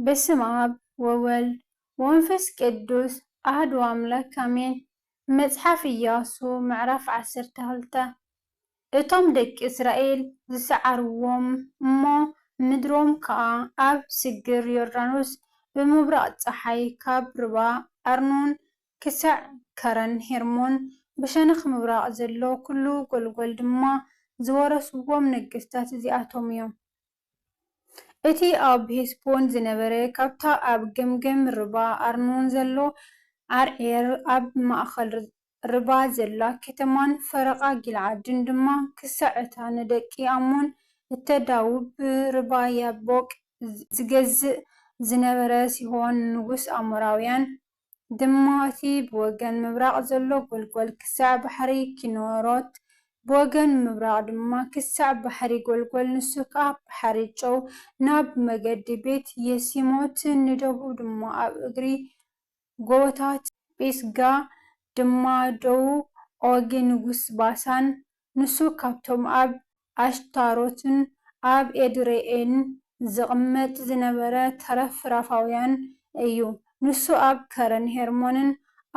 በስመ ኣብ ወወልድ ወመንፈስ ቅዱስ ኣህዱ ኣምላክ ኣሜን መጽሓፍ ኢያሱ ምዕራፍ ዓሰርተ ክልተ እቶም ደቂ እስራኤል ዝሰዓርዎም እሞ ምድሮም ከኣ ኣብ ስግር ዮርዳኖስ ብምብራቕ ጸሓይ ካብ ርባ ኣርኖን ክሳዕ ከረን ሄርሞን ብሸነኽ ምብራቕ ዘሎ ኵሉ ጐልጐል ድማ ዝወረስዎም ነገስታት እዚኣቶም እዮም። እቲ ኣብ ሄስቦን ዝነበረ ካብታ ኣብ ገምገም ርባ ኣርኖን ዘሎ ዓርዔር ኣብ ማእከል ርባ ዘላ ከተማን ፈረቓ ጊልዓድን ድማ ክሳዕ እታ ንደቂ ኣሞን እተዳውብ ብርባ ያቦቅ ዚገዝእ ዝነበረ ሲሆን ንጉስ ኣሞራውያን ድማ እቲ ብወገን ምብራቕ ዘሎ ጐልጐል ክሳዕ ባሕሪ ኪነሮት ብወገን ምብራቕ ድማ ክሳዕ ባሕሪ ጐልጐል ንሱ ከኣ ባሕሪ ጨው ናብ መገዲ ቤት የሲሞት ንደቡብ ድማ ኣብ እግሪ ጎቦታት ጲስጋ ድማ ደዉ ዖጊ ንጉስ ባሳን፣ ንሱ ካብቶም ኣብ ኣሽታሮትን ኣብ ኤድርዔን ዚቕመጥ ዝነበረ ተረፍ ራፋውያን እዩ። ንሱ ኣብ ከረን ሄርሞንን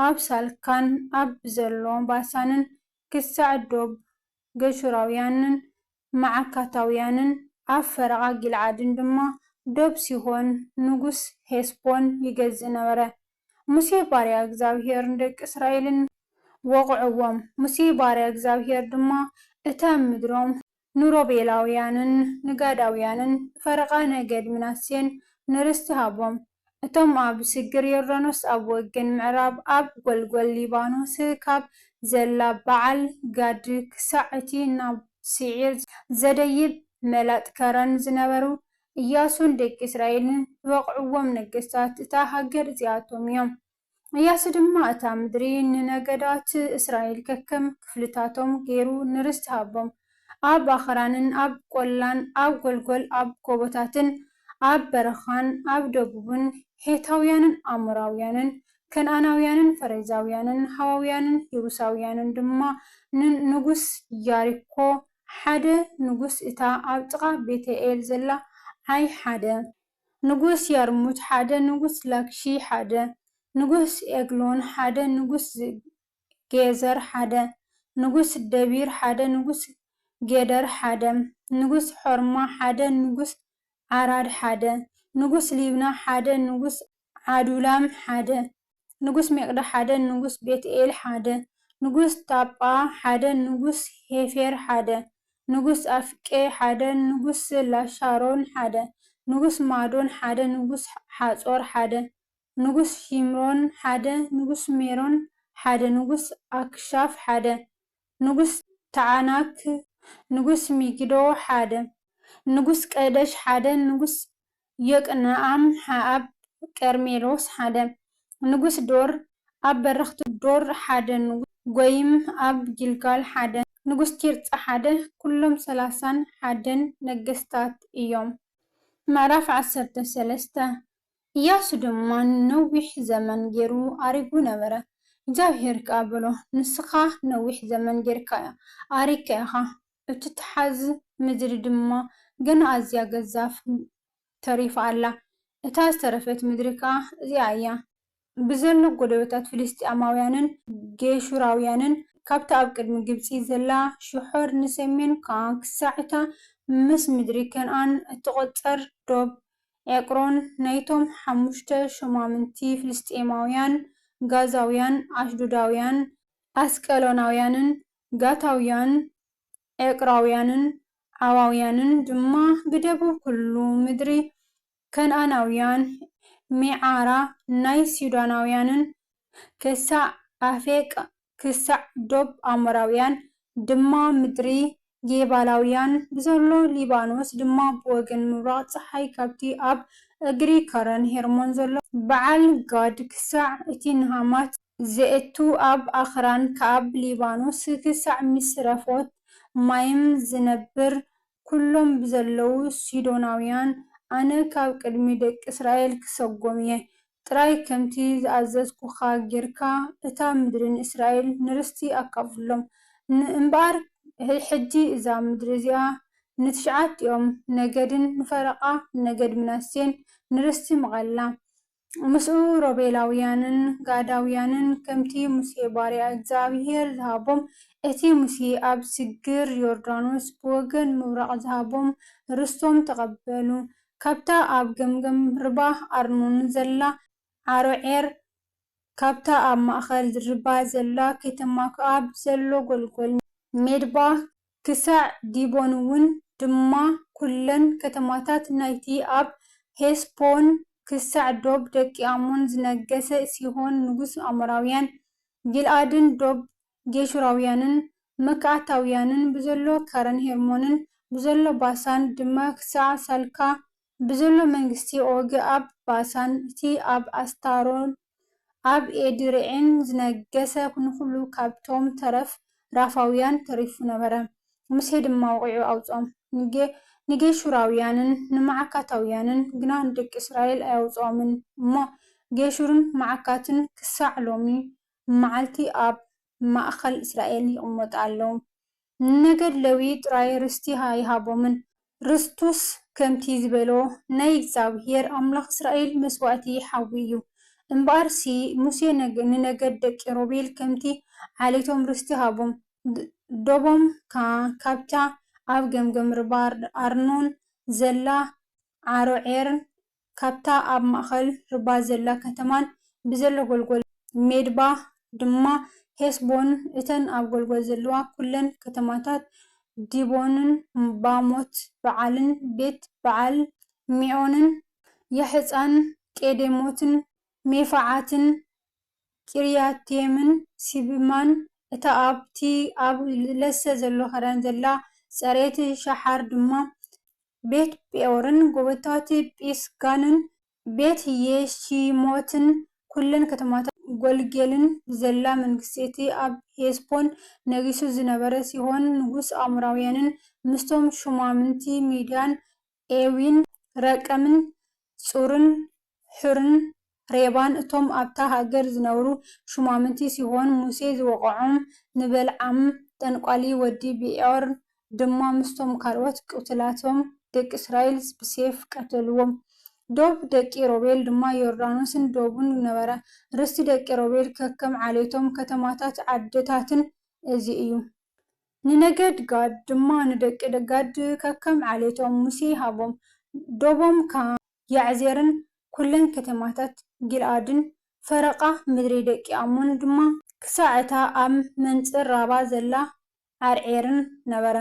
ኣብ ሳልካን ኣብ ዘሎ ባሳንን ክሳዕ ዶብ ገሹራውያንን መዓካታውያንን ኣብ ፈረቓ ጊልዓድን ድማ ዶብ ሲሆን ንጉስ ሔስቦን ይገዝእ ነበረ። ሙሴ ባርያ እግዚኣብሄር ንደቂ እስራኤልን ወቕዕዎም፣ ሙሴ ባርያ እግዚኣብሄር ድማ እታ ምድሮም ንሮቤላውያንን ንጋዳውያንን ብፈረቓ ነገድ ምናሴን ንርስቲ ሃቦም። እቶም ኣብ ስግር ዮርዳኖስ ኣብ ወገን ምዕራብ ኣብ ጎልጎል ሊባኖስ ካብ ዘላ በዓል ጋድ ክሳዕ እቲ ናብ ስዒር ዘደይብ መላጥ ከረን ዝነበሩ፣ እያሱን ደቂ እስራኤልን ዝወቕዕዎም ነገስታት እታ ሃገር እዚኣቶም እዮም። እያሱ ድማ እታ ምድሪ ንነገዳት እስራኤል ከከም ክፍልታቶም ገይሩ ንርስቲ ሃቦም፣ ኣብ ኣኽራንን ኣብ ቈላን ኣብ ጐልጐል ኣብ ጐቦታትን ኣብ በረኻን ኣብ ደቡብን፣ ሔታውያንን ኣሞራውያንን ከነኣናውያንን ፈሬዛውያንን ሃዋውያንን የቡሳውያንን ድማ ንንጉስ ያሪኮ፣ ሓደ ንጉስ እታ ኣብ ጥቓ ቤተ-ኤል ዘላ ዓይ ሓደ። ንጉስ ያርሙት ሓደ ንጉስ ላኪሺ ሓደ ንጉስ ኤግሎን ሓደ ንጉስ ጌዘር ሓደ ንጉስ ደቢር ሓደ ንጉስ ጌደር ሓደ ንጉስ ሖርማ ሓደ ንጉስ ዓራድ ሓደ ንጉስ ሊብና ሓደ ንጉስ ዓዱላም ሓደ ንጉስ ሜቅዳ ሓደ ንጉስ ቤትኤል ሓደ ንጉስ ታጳ ሓደ ንጉስ ሔፌር ሓደ ንጉስ ኣፍቄ ሓደ ንጉስ ላሻሮን ሓደ ንጉስ ማዶን ሓደ ንጉስ ሓጾር ሓደ ንጉስ ሺምሮን ሓደ ንጉስ ሜሮን ሓደ ንጉስ ኣክሻፍ ሓደ ንጉስ ተዓናክ ንጉስ ሚጊዶ ሓደ ንጉስ ቀደሽ ሓደ ንጉስ ዮቅንኣም ኣብ ቀርሜሎስ ሓደ ንጉስ ዶር ኣብ በረኽት ዶር ሓደ ንጉስ ጎይም ኣብ ጊልጋል ሓደ ንጉስ ቲርጻ ሓደ ኩሎም ሰላሳን ሓደን ነገስታት እዮም። ምዕራፍ ዓሰርተ ሰለስተ እያሱ ድማ ነዊሕ ዘመን ጌሩ ኣሪጉ ነበረ፣ እግዚኣብሄር ከኣ በሎ፣ ንስኻ ነዊሕ ዘመን ጌርካ ኣሪግካ ኢኻ፣ እትትሓዝ ምድሪ ድማ ገና ኣዝያ ገዛፍ ተሪፋ ኣላ፣ እታ ዝተረፈት ምድሪ ከኣ እዚኣ እያ። ብዘሎ ጎደቦታት ፍልስጥኤማውያንን ጌሹራውያንን፣ ካብታ ኣብ ቅድሚ ግብጺ ዘላ ሽሖር ንሰሜን ከኣ ክሳዕ እታ ምስ ምድሪ ከንኣን እትቝጸር ዶብ ኤቅሮን፣ ናይቶም ሓሙሽተ ሾማምንቲ ፍልስጥኤማውያን፣ ጋዛውያን፣ ኣሽዶዳውያን፣ ኣስቀሎናውያንን ጋታውያን፣ ኤቅራውያንን ዓዋውያንን ድማ ብደቡብ ኩሉ ምድሪ ከንኣናውያን፣ ሜዓራ ናይ ሲዶናውያንን ክሳዕ ኣፌቅ ክሳዕ ዶብ ኣሞራውያን ድማ ምድሪ ጌባላውያን ብዘሎ ሊባኖስ ድማ ብወገን ምብራቕ ጸሓይ ካብቲ ኣብ እግሪ ከረን ሄርሞን ዘሎ በዓል ጋድ ክሳዕ እቲ ንሃማት ዘእቱ ኣብ ኣኽራን ከኣብ ሊባኖስ ክሳዕ ምስረፎት ማይም ዝነብር ኵሎም ብዘለዉ ሲዶናውያን ኣነ ካብ ቅድሚ ደቂ እስራኤል ክሰጎም እየ። ጥራይ ከምቲ ዝኣዘዝኩኻ ጌርካ እታ ምድሪ ንእስራኤል ንርስቲ ኣካፍሎም። እምበኣር ሕጂ እዛ ምድሪ እዚኣ ንትሽዓቲኦም ነገድን ንፈረቓ ነገድ ምናሴን ንርስቲ ምቐላ። ምስኡ ሮቤላውያንን ጋዳውያንን ከምቲ ሙሴ ባርያ እግዚኣብሄር ዝሃቦም እቲ ሙሴ ኣብ ስግር ዮርዳኖስ ብወገን ምብራቕ ዝሃቦም ርስቶም ተቐበሉ። ካብታ ኣብ ገምገም ርባ ኣርኖን ዘላ ዓሮዔር ካብታ ኣብ ማእከል ርባ ዘላ ከተማ ክኣ ብዘሎ ጐልጐል ሜድባ ክሳዕ ዲቦን'ውን ድማ ኵለን ከተማታት ናይቲ ኣብ ሔስቦን ክሳዕ ዶብ ደቂ ኣሞን ዝነገሠ ሲሆን ንጉሥ ኣሞራውያን፣ ጊልዓድን ዶብ ጌሹራውያንን መካኣታውያንን ብዘሎ ከረን ሄርሞንን ብዘሎ ባሳን ድማ ክሳዕ ሳልካ ብዘሎ መንግስቲ ኦጊ ኣብ ባሳን እቲ ኣብ ኣስታሮትን ኣብ ኤድሬኢን ዝነገሰ ንዅሉ ኻብቶም ተረፍ ራፋውያን ተሪፉ ነበረ። ሙሴ ድማ ወቒዑ ኣውጽኦም፣ ንጌሹራውያንን ንመዓካታውያንን ግና ንደቂ እስራኤል ኣየውጽኦምን እሞ፣ ጌሹርን መዓካትን ክሳዕ ሎሚ መዓልቲ ኣብ ማእከል እስራኤል ይቕመጡ ኣለዉ። ንነገድ ለዊ ጥራይ ርስቲ ኣይሃቦምን፣ ርስቱስ ከምቲ ዝበሎ ናይ እግዚኣብሄር ኣምላኽ እስራኤል መስዋእቲ ሓዊ እዩ። እምበኣርሲ ሙሴ ንነገድ ደቂ ሮቤል ከምቲ ዓሌቶም ርስቲ ሃቦም፣ ዶቦም ከኣ ካብታ ኣብ ገምገም ርባ ኣርኖን ዘላ ዓሮዔርን ካብታ ኣብ ማእከል ርባ ዘላ ከተማን ብዘሎ ጐልጐል ሜድባ ድማ ሔስቦን እተን ኣብ ጐልጐል ዘለዋ ኵለን ከተማታት ዲቦንን ባሞት በዓልን ቤት በዓል ሜዖንን ያሕጻን ቄዴሞትን ሜፋዓትን ቂርያትይምን ሲብማን እታ ኣብቲ ኣብ ለሰ ዘሎ ኸዳን ዘላ ጸሬት ሸሓር ድማ ቤት ጴኦርን ጎቦታት ጲስጋንን ቤት የሺሞትን ኵለን ከተማታት ጎልጌልን ዘላ መንግስቲ እቲ ኣብ ሄስቦን ነጊሱ ዝነበረ ሲሆን ንጉስ ኣሞራውያንን ምስቶም ሹማምንቲ ሚድያን ኤዊን ረቀምን ጹርን ሑርን ሬባን እቶም ኣብታ ሃገር ዝነብሩ ሹማምንቲ ሲሆን ሙሴ ዝወቕዖም፣ ንበልዓም ጠንቋሊ ወዲ ብዔዖር ድማ ምስቶም ካልኦት ቅትላቶም ደቂ እስራኤል ብሴፍ ቀተልዎም። ዶብ ደቂ ሮቤል ድማ ዮርዳኖስን ዶቡን ነበረ። ርስቲ ደቂ ሮቤል ከከም ዓሌቶም፣ ከተማታትን ዓድታትን እዚ እዩ። ንነገድ ጋድ ድማ ንደቂ ጋድ ከከም ዓሌቶም ሙሴ ሃቦም፣ ዶቦም ከኣ። ያዕዜርን ኵለን ከተማታት ጊልዓድን፣ ፈረቓ ምድሪ ደቂ ኣሞን ድማ ክሳዕ እታ ኣብ መንጽር ራባ ዘላ ዓርዔርን ነበረ።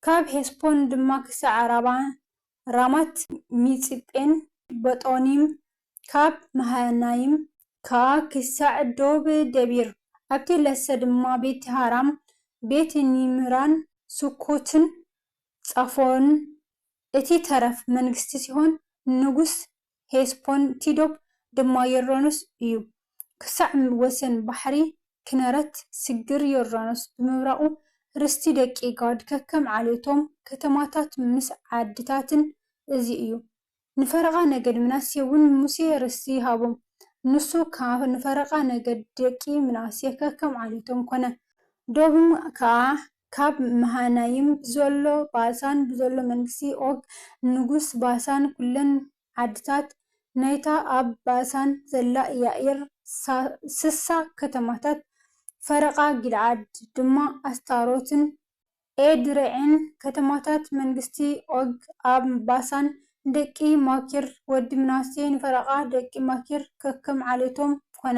ካብ ሔስቦን ድማ ክሳዕ ኣራባ፣ ራማት ሚጽጴን በጦኒም፣ ካብ መሃናይም ከኣ ክሳዕ ዶብ ደቢር፣ ኣብቲ ለሰ ድማ ቤትሃራም፣ ቤትኒምራን ሱኮትን ጻፎን እቲ ተረፍ መንግስቲ ሲሆን፣ ንጉስ ሄስፖን ቲዶፕ ድማ ዮርዳኖስ እዩ። ክሳዕ ወሰን ባሕሪ ኪነረት ስግር ዮርዳኖስ ብምብራቑ፣ ርስቲ ደቂ ጋድ ከከም ዓሌቶም፣ ከተማታት ምስ ዓድታትን እዚ እዩ። ንፈረቓ ነገድ ምናሴ'ውን ሙሴ ርስቲ ይሃቦም፣ ንሱ ከኣ ንፈረቓ ነገድ ደቂ ምናሴ ከከም ዓሌቶም ኰነ። ዶብም ከኣ ካብ መሃናይም ብዘሎ ባሳን ብዘሎ መንግስቲ ኦግ ንጉስ ባሳን ኵለን ዓድታት ናይታ ኣብ ባሳን ዘላ ያኢር ስሳ ከተማታት ፈረቓ ጊልዓድ ድማ ኣስታሮትን ኤድረዒን ከተማታት መንግስቲ ኦግ ኣብ ባሳን ንደቂ ማኪር ወዲ ምናሴ ንፈረቓ ደቂ ማኪር ከከም ዓሌቶም ኰነ።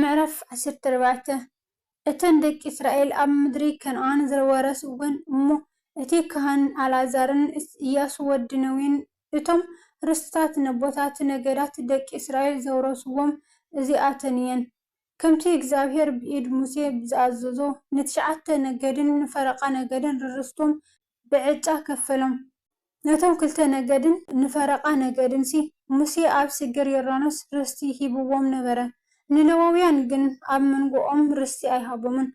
ምዕራፍ ዓሰርተ ኣርባዕተ እተን ደቂ እስራኤል ኣብ ምድሪ ከነኣን ዝወረስወን እሞ እቲ ካህን ኣልኣዛርን እያሱ ወዲ ነዌን እቶም ርስታት ነቦታት ነገዳት ደቂ እስራኤል ዘውረስዎም እዚኣተን እየን፣ ከምቲ እግዚኣብሄር ብኢድ ሙሴ ብዝኣዘዞ፣ ንትሽዓተ ነገድን ንፈረቓ ነገድን ርርስቶም ብዕጫ ከፈሎም። ነቶም ክልተ ነገድን ንፈረቓ ነገድንሲ፣ ሙሴ ኣብ ስግር ዮርዳኖስ ርስቲ ሂብዎም ነበረ፣ ንሌዋውያን ግን ኣብ መንጎኦም ርስቲ ኣይሃቦምን።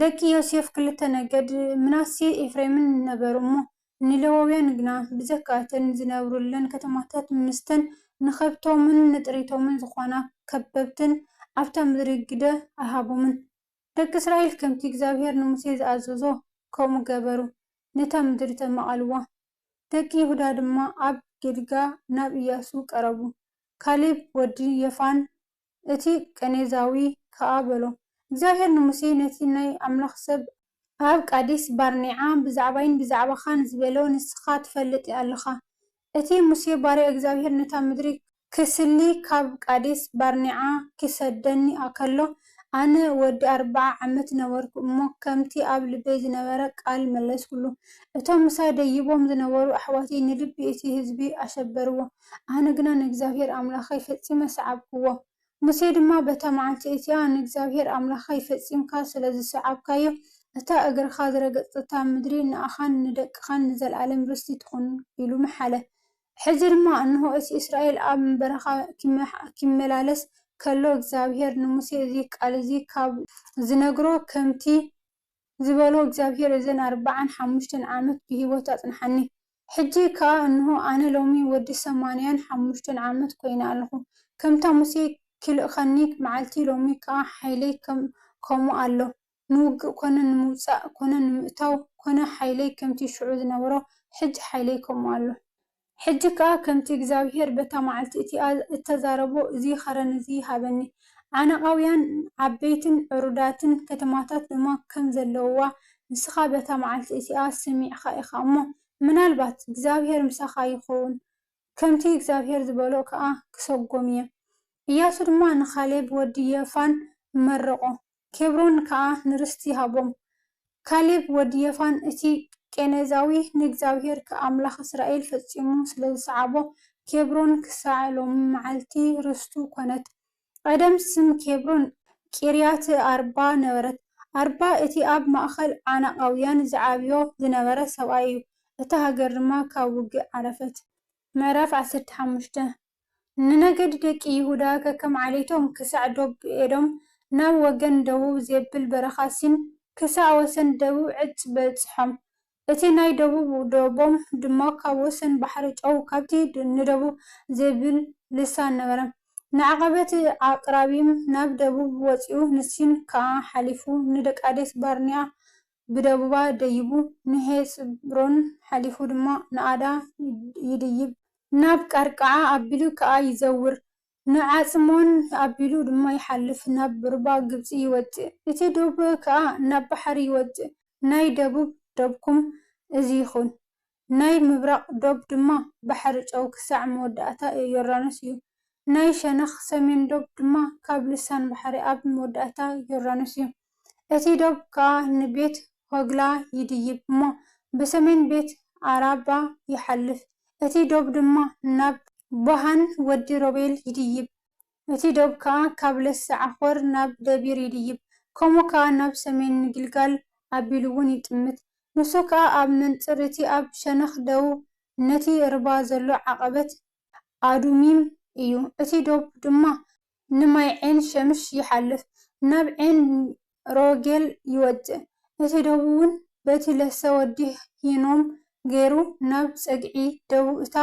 ደቂ ዮሴፍ ክልተ ነገድ፣ ምናሴን ኤፍሬምን ነበሩ እሞ፣ ንሌዋውያን ግና ብዘካ እተን ዝነብሩለን ከተማታት ምስተን ንኸብቶምን ንጥሪቶምን ዝዀና ከበብተን ኣብታ ምድሪ ግደ ኣይሃቦምን። ደቂ እስራኤል ከምቲ እግዚኣብሄር ንሙሴ ዝኣዘዞ ከምኡ ገበሩ፣ ነታ ምድሪ ተማቐልዋ። ደቂ ይሁዳ ድማ ኣብ ጊልጋ ናብ እያሱ ቀረቡ። ካሌብ ወዲ የፋን እቲ ቀኔዛዊ ከኣ በሎ፣ እግዚኣብሄር ንሙሴ ነቲ ናይ ኣምላኽ ሰብ፣ ኣብ ቃዴስ-ባርኔዓ ብዛዕባይን ብዛዕባኻን ዝበሎ ንስኻ ትፈልጥ ኣለኻ፣ እቲ ሙሴ ባርያ እግዚኣብሄር ነታ ምድሪ ክስሊ ኻብ ቃዴስ ባርኔዓ ኺሰደኒ ከሎ፣ ኣነ ወዲ ኣርብዓ ዓመት ነበርኩ እሞ፣ ከምቲ ኣብ ልበይ ዝነበረ ቓል መለስኩሉ። እቶም ምሳይ ደይቦም ዝነበሩ ኣሕዋተይ ንልቢ እቲ ህዝቢ ኣሸበርዎ፣ ኣነ ግና ንእግዚኣብሄር ኣምላኸይ ፈጺመ ሰዓብክዎ። ሙሴ ድማ በታ መዓልቲ እቲኣ ንእግዚኣብሄር ኣምላኽካይ ፈጺምካ ስለ ዝሰዓብካዮ፣ እታ እግርኻ ዝረገጽትታ ምድሪ ንኣኻን ንደቅኻን ንዘለኣለም ርስቲ ትኹን ኢሉ መሓለ። ሕጂ ድማ እንሆ፣ እቲ እስራኤል ኣብ በረኻ ኪመላለስ ከሎ፣ እግዚኣብሄር ንሙሴ እዚ ቃል እዚ ኻብ ዝነግሮ ኸምቲ ዝበሎ እግዚኣብሄር እዘን ኣርብዓን ሓሙሽተን ዓመት ብህይወት ኣጽንሓኒ። ሕጂ ከኣ እንሆ ኣነ ሎሚ ወዲ ሰማንያን ሓሙሽተን ዓመት ኮይነ ኣለኹ። ከምታ ሙሴ ኪልእኸኒ መዓልቲ ሎሚ ከኣ ሓይለይ ከም ከምኡ ኣሎ። ንውግእ ኮነ ንምውጻእ ኮነ ንምእታው ኮነ ሓይለይ ከምቲ ሽዑ ዝነበሮ ሕጂ ሓይለይ ከምኡ ኣሎ። ሕጂ ከኣ ከምቲ እግዚኣብሄር በታ መዓልቲ እቲኣ እተዛረቦ እዚ ኸረን እዚ ሃበኒ፣ ዓናቓውያን ዓበይትን ዕሩዳትን ከተማታት ድማ ከም ዘለዉዋ ንስኻ በታ መዓልቲ እቲኣ ሰሚዕካ ኢኻ እሞ፣ ምናልባት እግዚኣብሄር ምሳኻ ይኸውን፣ ከምቲ እግዚኣብሄር ዝበሎ ኸኣ ክሰጎም እየ። እያሱ ድማ ንካሌብ ወዲ የፋን መረቖ፣ ኬብሮን ከኣ ንርስቲ ሃቦም። ካሌብ ወዲ የፋን እቲ ቄኔዛዊ ንእግዚኣብሄር ከኣምላኽ እስራኤል ፈጺሙ ስለ ዝሰዓቦ፣ ኬብሮን ክሳዕ ሎሚ መዓልቲ ርስቱ ኰነት። ቐደም ስም ኬብሮን ቂርያትኣርባ ነበረት። ኣርባ እቲ ኣብ ማእከል ዓናቓውያን ዝዓብዮ ዝነበረ ሰብኣይ እዩ፣ እታ ሃገር ድማ ካብ ውግእ ዓረፈት። ምዕራፍ ዓሰርተ ሓሙሽተ፣ ንነገዲ ደቂ ይሁዳ ከከም ዓሌቶም ክሳዕ ዶብ ኤዶም፣ ናብ ወገን ደቡብ ዜብል በረኻ ሲን፣ ክሳዕ ወሰን ደቡብ ዕፅ በጽሖም። እቲ ናይ ደቡብ ዶቦም ድማ ካብ ወሰን ባሕሪ ጨው ካብቲ ንደቡብ ዜብል ልሳን ነበረ፣ ንዓቐበት ኣቅራቢም ናብ ደቡብ ወጺኡ፣ ንሲን ከኣ ሓሊፉ ንደቂቃዴስ-ባርኔኣ ብደቡባ ደይቡ ንሔጽብሮን ሓሊፉ ድማ ንኣዳ ይድይብ። ናብ ቃርቃዓ ኣቢሉ ከኣ ይዘውር፣ ንዓጽሞን ኣቢሉ ድማ ይሓልፍ፣ ናብ ሩባ ግብጺ ይወጽእ፣ እቲ ዶብ ከኣ ናብ ባሕሪ ይወጽእ፣ ናይ ደቡብ ዶብኩም እዚ ይኹን። ናይ ምብራቕ ዶብ ድማ ባሕሪ ጨው ክሳዕ መወዳእታ ዮርዳኖስ እዩ። ናይ ሸነኽ ሰሜን ዶብ ድማ ካብ ልሳን ባሕሪ ኣብ መወዳእታ ዮርዳኖስ እዩ። እቲ ዶብ ከኣ ንቤት ሆግላ ይድይብ እሞ፣ ብሰሜን ቤት ኣራባ ይሓልፍ፣ እቲ ዶብ ድማ ናብ። ቦሃን ወዲ ሮቤል ይድይብ፣ እቲ ዶብ ከኣ ካብ ለሰ-ዓኾር ናብ ደቢር ይድይብ፣ ከምኡ ከኣ ናብ ሰሜን ንጊልጋል ኣቢሉ'ውን ይጥምት። ንሱ ከኣ ኣብ መንጽር እቲ ኣብ ሸነኽ ደቡብ ነቲ ርባ ዘሎ ዓቐበት ኣዱሚም እዩ። እቲ ዶብ ድማ ንማይ ዔን ሸምሽ ይሓልፍ፣ ናብ ዔን ሮጌል ይወጽእ። እቲ ደቡብን በቲ ለሰ ወዲ ሂኖም ገይሩ ናብ ጸግዒ ደቡብ እታ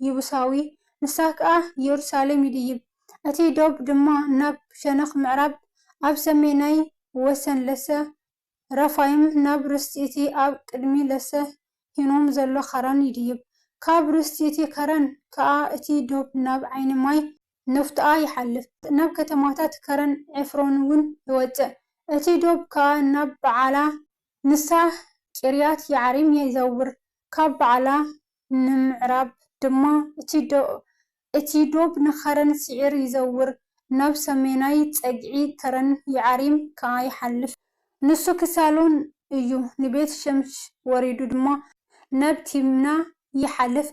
ይቡሳዊ፣ ንሳ ከኣ የሩሳሌም ይድይብ። እቲ ዶብ ድማ ናብ ሸነኽ ምዕራብ ኣብ ሰሜናይ ወሰን ለሰ ረፋይም ናብ ርስቲ እቲ ኣብ ቅድሚ ለሰ ሂኖም ዘሎ ከረን ይድይብ። ካብ ርስቲ እቲ ከረን ከኣ እቲ ዶብ ናብ ዓይኒ ማይ፣ ኖፍጣኣ ይሓልፍ፣ ናብ ከተማታት ከረን ዔፍሮንውን ይወጽእ፣ እቲ ዶብ ከኣ ናብ በዓላ ንሳ ቂርያትየዓሪም ይዘውር፣ ካብ በዓላ ንምዕራብ ድማ እቲ ዶብ ንኸረን ሴዒር ይዘውር፣ ናብ ሰሜናይ ጸግዒ ከረን የዓሪም ከኣ ይሓልፍ። ንሱ ክሳሎን እዩ ንቤት ሸምሽ ወሪዱ ድማ ናብ ቲምና ይሓልፍ፣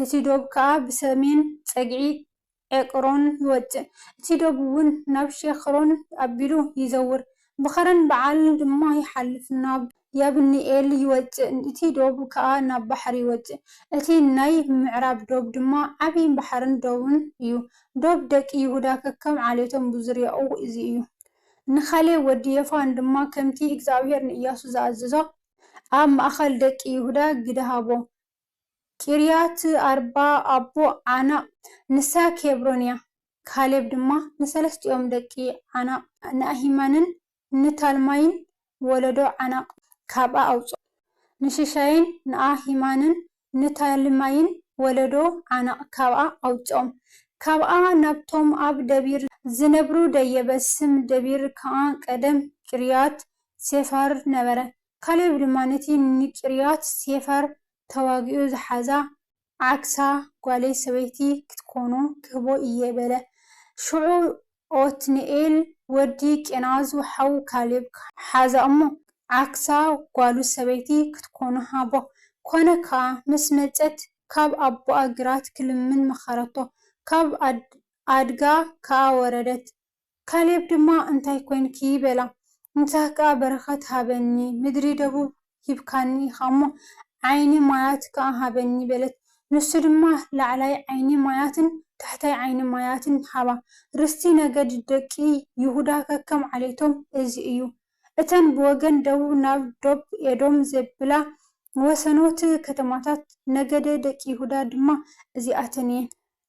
እቲ ዶብ ከኣ ብሰሜን ጸግዒ ዔቅሮን ይወጽእ፣ እቲ ዶብ'ውን ናብ ሼክሮን ኣቢሉ ይዘውር፣ ብኸረን በዓል ድማ ይሓልፍ ናብ ያብኒኤል ይወጽእ፣ እቲ ዶብ ከኣ ናብ ባሕሪ ይወጽእ፣ እቲ ናይ ምዕራብ ዶብ ድማ ዓቢ ባሕርን ዶብን እዩ፣ ዶብ ደቂ ይሁዳ ከከም ዓሌቶም ብዙርያኡ እዚ እዩ። ንካሌብ ወዲ የፋን ድማ ከምቲ እግዚኣብሄር ንእያሱ ዝኣዘዞ፣ ኣብ ማእከል ደቂ ይሁዳ ግደ ሃቦ። ቂርያትኣርባ ኣቦ ዓናቕ፣ ንሳ ኬብሮን እያ። ካሌብ ድማ ንሰለስቲኦም ደቂ ዓናቕ፣ ንኣሂማንን ንታልማይን ወለዶ ዓናቕ ካብኣ ኣውጽኦ። ንሽሻይን ንኣሂማንን ንታልማይን ወለዶ ዓናቕ ካብኣ ኣውጽኦም። ካብኣ ናብቶም ኣብ ደቢር ዚነብሩ ደየበ፣ ስም ደቢር ከኣ ቀደም ቂርያት ሴፋር ነበረ። ካሌብ ድማ ነቲ ንቂርያት ሴፋር ተዋጊኡ ዝሓዛ ዓክሳ ጓለይ ሰበይቲ ክትኮኑ ክህቦ እየ በለ። ሽዑ ኦትንኤል ወዲ ቄናዙ ሓው ካሌብ ሓዛ እሞ፣ ዓክሳ ጓሉ ሰበይቲ ክትኮኑ ሃቦ። ኮነ ከኣ፣ ምስ መጸት ካብ ኣቦኣ ግራት ክልምን መኸረቶ፣ ካብ ኣድጋ ከኣ ወረደት፣ ካሌብ ድማ እንታይ ኰይንኪ? በላ። ንሳህ ከኣ በረኸት ሃበኒ፣ ምድሪ ደቡብ ሂብካኒ ኢኻ'ሞ፣ ዓይኒ ማያት ከኣ ሃበኒ፣ በለት። ንሱ ድማ ላዕላይ ዓይኒ ማያትን ታሕታይ ዓይኒ ማያትን ሃባ። ርስቲ ነገድ ደቂ ይሁዳ ከከም ዓሌቶም እዚ እዩ። እተን ብወገን ደቡብ ናብ ዶብ ኤዶም ዜብላ ወሰኖት ከተማታት ነገደ ደቂ ይሁዳ ድማ እዚኣተን እየን።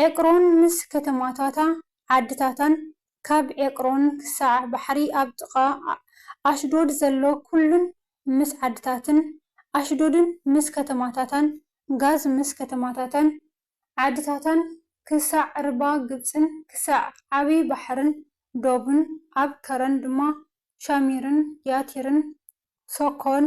ዔቅሮን ምስ ከተማታታ ዓድታታን ካብ ዔቅሮን ክሳዕ ባሕሪ ኣብ ጥቓ ኣሽዶድ ዘሎ ኵሉን ምስ ዓድታትን ኣሽዶድን ምስ ከተማታታን ጋዝ ምስ ከተማታታን ዓድታታን ክሳዕ ርባ ግብጽን ክሳዕ ዓብዪ ባሕርን ዶብን ኣብ ከረን ድማ ሻሚርን ያቲርን ሶኮን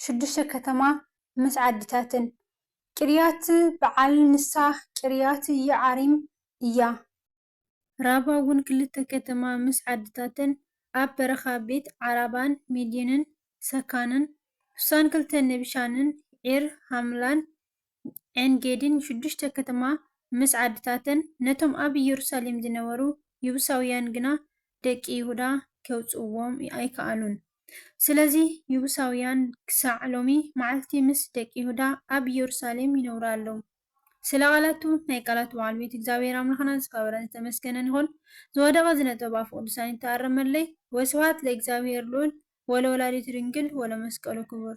ሽዱሽተ ከተማ ምስ ዓድታትን። ቂርያት በዓል ንሳ ቂርያት ይዓሪም እያ። ራባ ውን ክልተ ከተማ ምስ ዓድታትን ኣብ በረኻ ቤት ዓራባን ሚዲንን ሰካንን። ሑሳን ክልተ ንብሻንን ዒር ሃምላን ዔንጌዲን ሽዱሽተ ከተማ ምስ ዓድታተን፣ ነቶም ኣብ ኢየሩሳሌም ዝነበሩ የቡሳውያን ግና ደቂ ይሁዳ ኬውጽእዎም ኣይከኣሉን። ስለዚ፣ የቡሳውያን ክሳዕ ሎሚ መዓልቲ ምስ ደቂ ይሁዳ ኣብ ኢየሩሳሌም ይነብሩ ኣለዉ። ስለ ቓላቱ ናይ ቃላቱ በዓል ቤት እግዚኣብሔር ኣምላኽና ዝከበረን ዝተመስገነን ይኹን ዝወደቀ ዝነጥበ ብኣፈ ቅዱሳን ይተኣረመለይ ወስብሃት ለእግዚኣብሔር ልዑል ወለወላዲቱ ድንግል ወለመስቀሉ ክቡር።